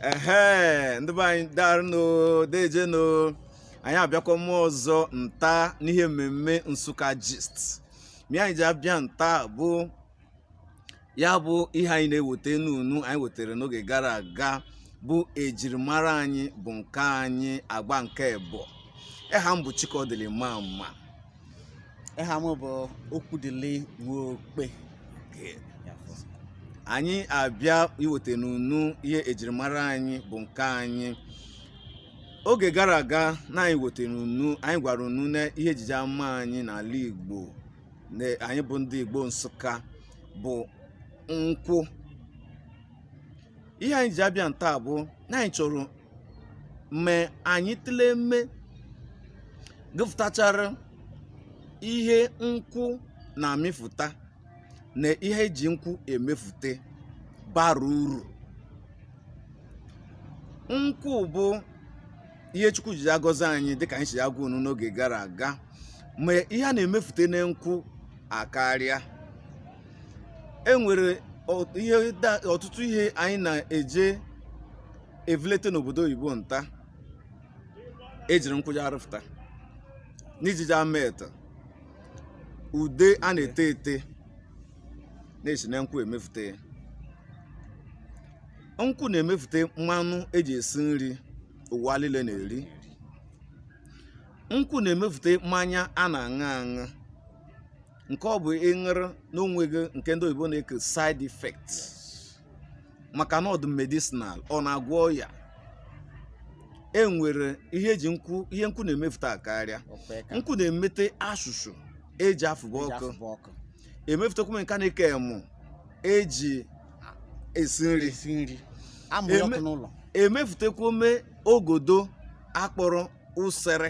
ehe ndị be anyị darụnụ dejenụ anyị abịakwama ọzọ nta n'ihe mmemme nsụka gist ma ihe anyị ji abịa nta bụ ya bụ ihe anyị na-eweta n'unu anyị wetara n'oge gara aga bụ ejirimara anyị bụ nke anyị agba nke ebo ịha m bụ chikọdịlị mama ịha m bụ okwudịlị nwokpe anyị abịa iweta n'unu ihe ejirimara anyị bụ nke anyị oge gara aga na anyị wetara unu anyị gwara unu na ihe ejiji ama anyị n'ala igbo anyị bụ ndị igbo nsụka bụ nkwụ ihe anyị ji abịa nta bụ na anyị chọrọ ma anyị tụlee mme gụfụtachara ihe nkwụ na-amịfụta na ihe eji nkwụ emefute bara uru nkwụ bụ ihe chukwu ji agọzi anyị dịka anyị si agwa unu n'oge gara aga ma ihe a na-emefute na nkwụ akarịa e nwere ọtụtụ ihe anyị na-eje evulete n'obodo oyibo nta ejiri nkwụ ji arụfụta na ejiji emete ude a na-ete ete na-esi na nkwụ emefute ya nkwụ na-emefute mmanụ eji esi nri ụwa niile na-eri nkwụ na-emefute mmanya a na-aṅụ aṅụ nke ọ bụ ị ṅụrụ na o nweghị nke ndị oyibo na-eke side effect maka na ọ dụ medicinal ọ na-agwọ ọya e nwere ihe eji ihe nkwụ na-emefuta akarịa nkwụ na-emete ashụshụ eji afụba ọkụ emefutekwa nke a na-eke emụ eji esi nri emefutekwa ome ogodo akpọrọ usere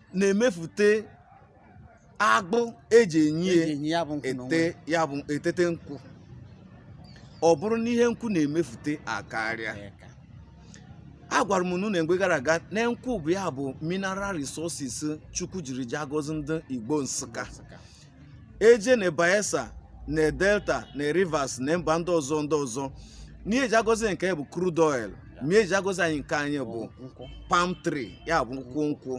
na-emefute agbụ eji enyi ya bụ etete nkwụ ọ bụrụ na ihe nkwụ na-emefute akarịa a gwara m unu na mgbe gara aga na nkwụ bụ ya bụ mineral resources chukwu jiri ji agọzi ndị igbo nsụka eje na Bayelsa na Delta na Rivers na mba ndị ọzọ ndị ọzọ n'ihe eji agọzi nke bụ crude oil ma ihe eji agọzi anyị nke anyị bụ palm tree ya bụ nkwụ nkwụ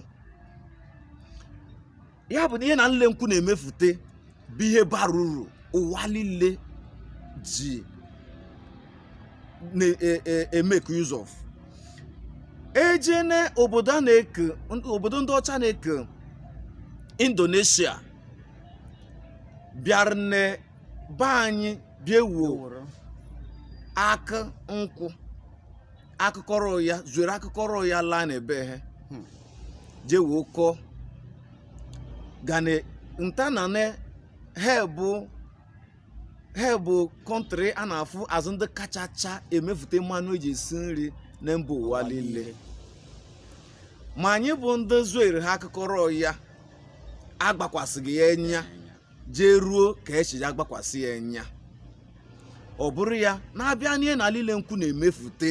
ya bụ na ihe na nle nkwụ na-emefute bụ ihe bara uru ụwa niile ji na-emeke e, e, use of e jee na obodo a na-eke obodo ndị ọcha na-eke indonesia bịara na be anyị bịa wuo akụ nkwụ akụkọrọ ya zuere akụkọrọ ya laa na be ha hmm. jee wee kọọ gane nta na ne ha bụ ha bụ kọntrị a na-afụ azụ ndị kachacha emefute mmanụ eji esi nri na mba ụwa niile ma anyị bụ ndị zuere ha akụkọrọ ya agbakwasịghị ya enya jee ruo ka echi ya agbakwasị ya enya ọ bụrụ ya na a bịa n'ihe na niile nkwụ na-emefute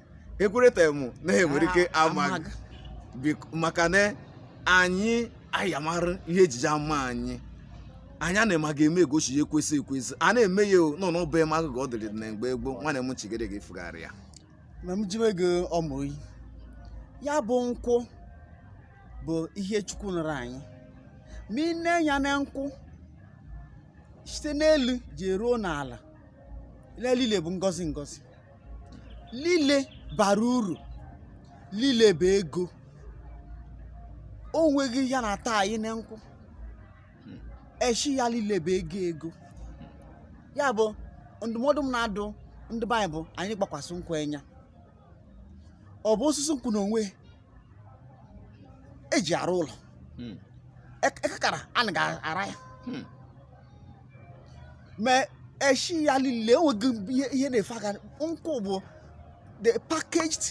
ekwerete m na ha nwere ike Ah, amaghị amaghị. Bik- maka na anyị anyị amara ihe e ji ya eme anyị anyị a na-ema ga-eme egosi ya ekwesị ekwesị a na-eme ya o, nọ n'ọbụ eme agụgụ ọ dịrị na mgbe gboo nwanne m chigere gị fugharị ya ma m jiwe gị ọmụ oyi ya bụ nkwụ bụ ihe chukwu nụrụ anyị ma i nee enya na nkwụ site n'elu jee ruo n'ala lile bụ ngọzi ngọzi lile bara uru lile bụ ego o nweghị ihe na-ata anyị na nkwụ eshi ya lile bụ ego ego ya bụ ndụmọdụ m na-adụ ndị be anyị bụ anyị gbakwasị nkwụ enya ọ bụ osisi nkwụ n'onwe eji arụ ụlọ hmm. ekekara a na ga-ara ya hmm. ma eshi ya niile enweghị ihe na-efe aka nkwụ bụ the packaged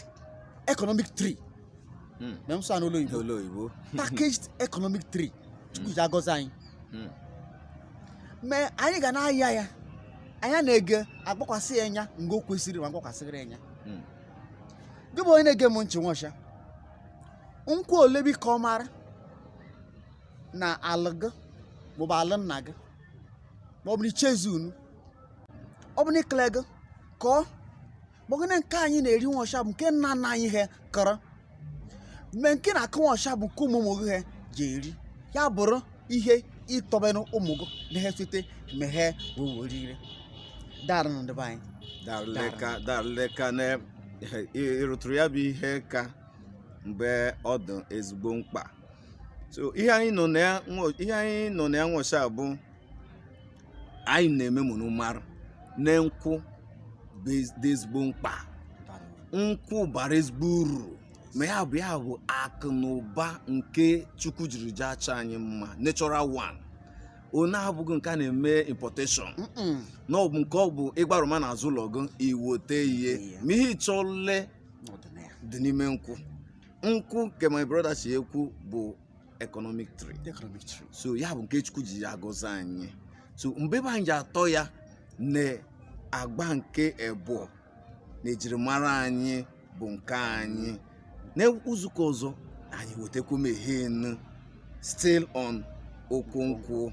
economic tree hmm. ma a sụọ n'olu oyibo packaged economic tree chukwu ji agọzi anyị ma anyị ga na-aya ya anya na-ege agbakwasị ya enya mgbe o kwesịrị ma a gbakwasịrị ya enya gị bụ onye na-ege m ntị nwọsha nkwụ ole bi ka ọ mara na alụ gị maọbụ alụ nna gị maọbụ na ichezi unu ọ bụ na ikele gị ka ọ bụ gịnị nke anyị na-eri nwọsha bụ nke nna nna anyị ha kọrọ ma nke a na-akọ nwọsha bụ nke ụmụ ụmụ gị ha je-eri ya bụrụ ihe ịtọbenụ ụmụ gị na ha site ma ha wee werire darị nụ ndị be anyị daleka daleka na ịrụtụrụ ya bụ ihe aka ebe ọ dị ezigbo mkpa so ihe anyị nọ na ya nwo- ihe anyị nọ na ya nwọsha bụ anyị na-eme ma ụnụ marụ na nkwụ bụ ez- dị ezigbo mkpa nkwụ bara ezigbo uru ma ya bụ ya bụ akụ na ụba nke chukwu jiri jee achọ anyị mma natural one onye abụghị nke a na-eme importation Mm-mm. na ọ bụ nke ọ bụ ị gbarụma na azụ ụlọ gị i wote ihe ma ihe ị chọle dị n'ime nkwụ nkwụ nke my brother si ekwu bụ economic tree economic tree so ya bụ nke chukwu ji agọzi anyị so mgbe be anyị ji atọ ya na agba nke ebụọ na ejirimara anyị bụ nke anyị na izu ụka ọzọ anyị wetakwu mehenu still on okwu nkwụ